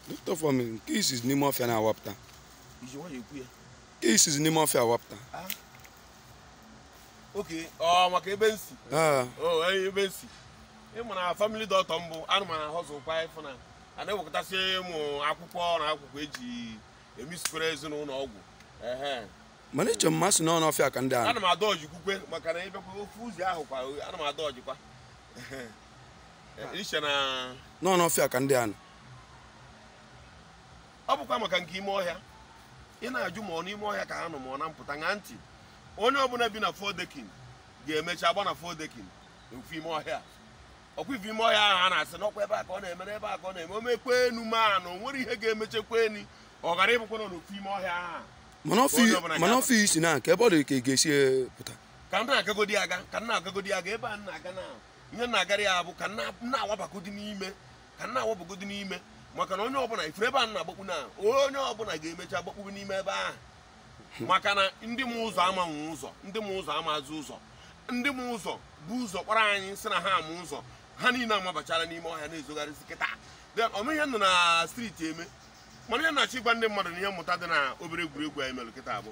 Doctor for me, nke i sizi n'ime ọfịa na-awapụta. I ji nwayọ ekwu ya. Nke i sizi n'ime ọfịa awapụta. Okay, ọ maka ebe m si. Ah. Oh, eh, ebe m si. Ị ma na family doctor m bụ, ana m a hustle kwa ị fụ na a na-ewekọtasị ụmụ akwụkwọ na akwụkwọ e ji emesikwere ezinụlọ ọgwụ ehe mana iche mma si n'ọnụ ọfịa ka ndị a nọ ana m adọjikwukwe maka na ị bakwa ofu ụzọ ahụ kwa ana m adọjikwa i che na n'ọnụ ọfịa ka ndị a nọ ọ bụkwa maka nke ime ọhịa ị na-ajụ ma ọ n'ime ọhịa ka ha nọ ma ọ na mpụta ṅaa ntị onye ọbụla bi na four decking ga-emecha agba na four decking ofu ime ọhịa ọkwa ị fụ ime ọhịa ahụ a na-asị n'ọkwa ebe a ka ọ na-emere ebe a ka ọ na-eme o mekwanụ mana o nwere ihe ga-emechakwanụ ọ ghara ịbụkwa n'ofu ime ọhịa ahụ mana ọfịa i si na nke ebe ọ dị ka ị ga-esi eh, pụta ka m na-agagodi aga ka m na-agagodi aga ebe a m na-aga na ihe m na-agara ya bụ ka m na- m na-awabagodi n'ime ka m na-awabagodi n'ime maka na onye ọbụla ị fụrụ ebe a m na-agbakpu na onye ọbụla ga-emecha gbakpuru n'ime ebe ahụ maka na ndị ma ụzọ amanwụ ụzọ ndị ma ụzọ amazị ụzọ ndị ma ụzọ bu ụzọ kpọrọ anyị sị na ha ma ụzọ ha niile amabachala n'ime ọhịa na-ezogharịzi kịta then ọnụ ihe nọ na street eme mana ihe m na-achọ ịgwa ndị mmadụ na ihe mmụta dị na obere egwuregwu anyị mere kịta bụ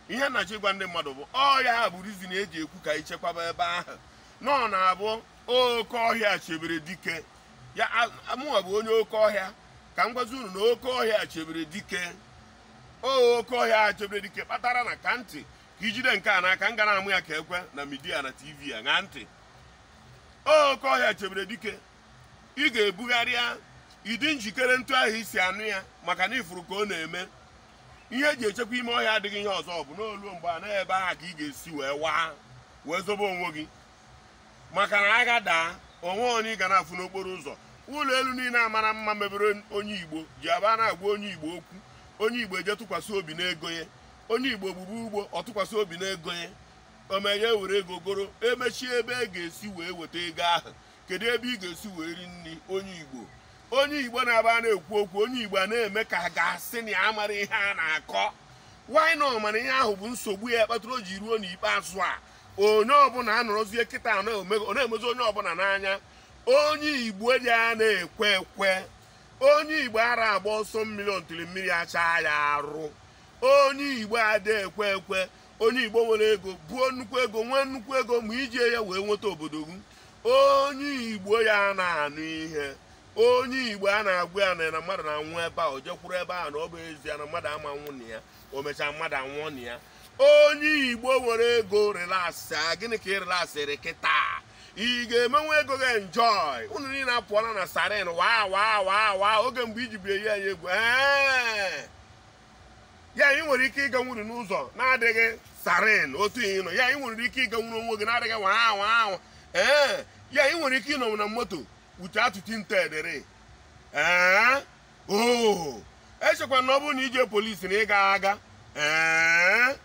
ihe m na-achọ ịgwa ndị mmadụ bụ ọ ya bụ reason e ji ekwu ka e chekwaba ebe ahụ na ọ na-abụ oke ọhịa chebere dike ya mụnwa bụ onye oke ọhịa ka m gwazi unu na oke ọhịa chebere dike ọ oke ọhịa a chebere dike kpatara ṅaakwa ntị ka i jide nke a n'aka m ga na-amụ ya ka ekwe na media na tv ya ṅaa ntị ọ oke ọhịa chebere dike ị ga-ebugharị ya ị dị njikere etu ahụ i si anụ ya maka na ị fụrụ ka ọ na-eme ihe e ji echekwa ime ọhịa adịghị ihe ọzọ ọ bụ na o luo mgbe a na ebe ahụ ka ị ga-esi wee waa wee zobe onwe gị maka na agha daa onwe onye ị ga na-afụ n'okporo ụzọ ụlọ elu niile a mara mma mebere onye igbo ji aba a na-agwa onye igbo okwu onye igbo eje tụkwasị obi n'ego ya onye igbo gbugbu ugbo ọ tụkwasị obi n'ego ya omenye were ego goro e mechie ebe a ga-esi wee weta ego ahụ kedu ebe ị ga-esi wee ri nri onye igbo onye igbo na-aba a na-ekwu okwu onye igbo a na-eme ka a ga-asị na ya mara ihe a na-akọ why na ọ mara ihe ahụ bụ nsogbu ya kpatara o ji ruo n'ikpeazụ a onye ọbụla anọrọzie kịta ọ na-emezi onye ọbụla n'anya onye igbo dị a na-ekwe ekwe onye igbo ara agba ọsọ mmiri until mmiri achaa ya arụ onye igbo ada ekwe ekwe onye igbo nwere ego buo nnukwu ego nwee nnukwu ego ma i ji ya wee nweta obodo gị onye igbo ya na-anụ ihe onye igbo a na-agwa ya na mmadụ na-anwụ ebe a o jekwuru ebe a na ọ bụ ezie na mmadụ ama nwụ na ya o mechaa mmadụ anwụọ na ya onye igbo nwere ego relax a gịnị ka ị relaxịrị kịta ị ga-emenwe ego gị enjoy unu niile apụọla na siren waa waa waa waa oge mgbe i ji bu eyi anyị egwu ee ya ị nwere ike ịganwuri n'ụzọ na-adịghị siren otu ị nọ ya ị nwere ike ịganwuru onwe gị na-adịghị waa waa waa ee ya ị nwere ike ịnọnwu na moto uche atụti nte edere ee oo echekwa na ọ bụrụ na i ji polisi na ị ga-aga ee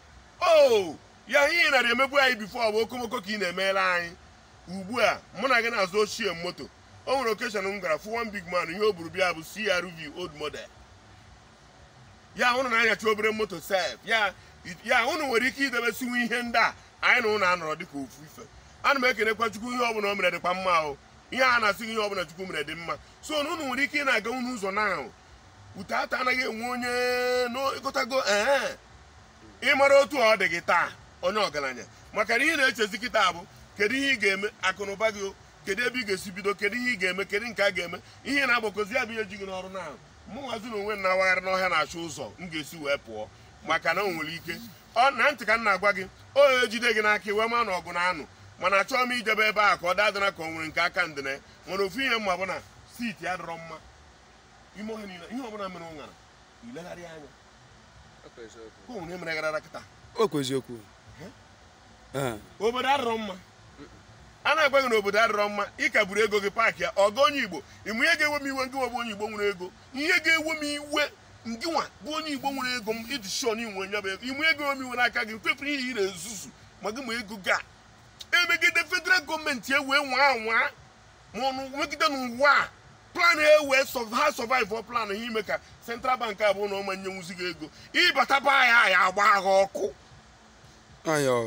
oo ya ihe ị nara emebu anyị before ọ bụ okomoko ka ị na-emere anyị ugbu a mụ na gị na-azụ ochie moto o nwere occasion m gara fụ one big man ihe o buru bịa bụ CRV old model ya ụnụ na-anyacha obere moto sef ya ya ụnụ nwere ike idebesịnwu ihe ndị a anyị na ụnụ anọrọ dịka ofu ife ana m ekenekwa chukwu ihe ọbụla o mere dịkwa mma o ihe a na-asị ihe ọbụla chukwu mere dị mma so na unu nwere ike ị na-aga unu ụzọ na ahụ ute ata anaghị enwe onye n'ịgụtago ee ị mara otu ọ dị gị taa onye ọgaranya maka na ihe na-echezi kịta bụ kedu ihe ị ga-eme akụnụba gị kedu ebe ị ga-esi bido kedu ihe ị ga-eme kedu nke a ga-eme ihe na-agbakozi ya bụ ihe ji gị n'ọrụ na mụnwazi na onwe na-awagharị n'ọhịa na-achọ ụzọ m ga-esi wee pụọ maka na o nwere ike ọ na ntị ka m na-agwa gị onye e jide gị n'aka iwe ma na ọgụ na anụ mana achọghị m ijebe ebe a ka ọ dadịna ka ọ nwere nke aka ndịna nwere ofu ihe m ma bụ na city adịrọ mma ime ọhịa niile ihe ọbụla mere ụṅara ilegharị anya ka o nwere ihe mere gara kịta okwu eziokwu obodo adịrọ mma a na-agwa gị na obodo adịrọ mma ị ka buru ego gị paakị ya oga onye igbo ị ma ihe ga-ewe m iwe ngịnwa bụ onye igbo nwere ego ihe ga-ewe m iwe ngịnwa bụ onye igbo nwere ego m iji shon inwe nya bụ ego ime ego m iwe n'aka gị kwepụrụ ihe ị na-ezuzu ma gị ma ego gị a emegide federal government e wee nwaa anwaa ma ọnụ megide n'ụwa a plan ewee ha survive plan ha ime ka central bank abụọ na ọ ma nyenwuzi gị ego ị bata be anyị anyị agbaa gị ọkụ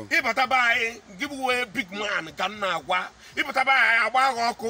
ị bata be anyị gị bụ big man ka m na-agwa ị bata be anyị anyị agbaa gị ọkụ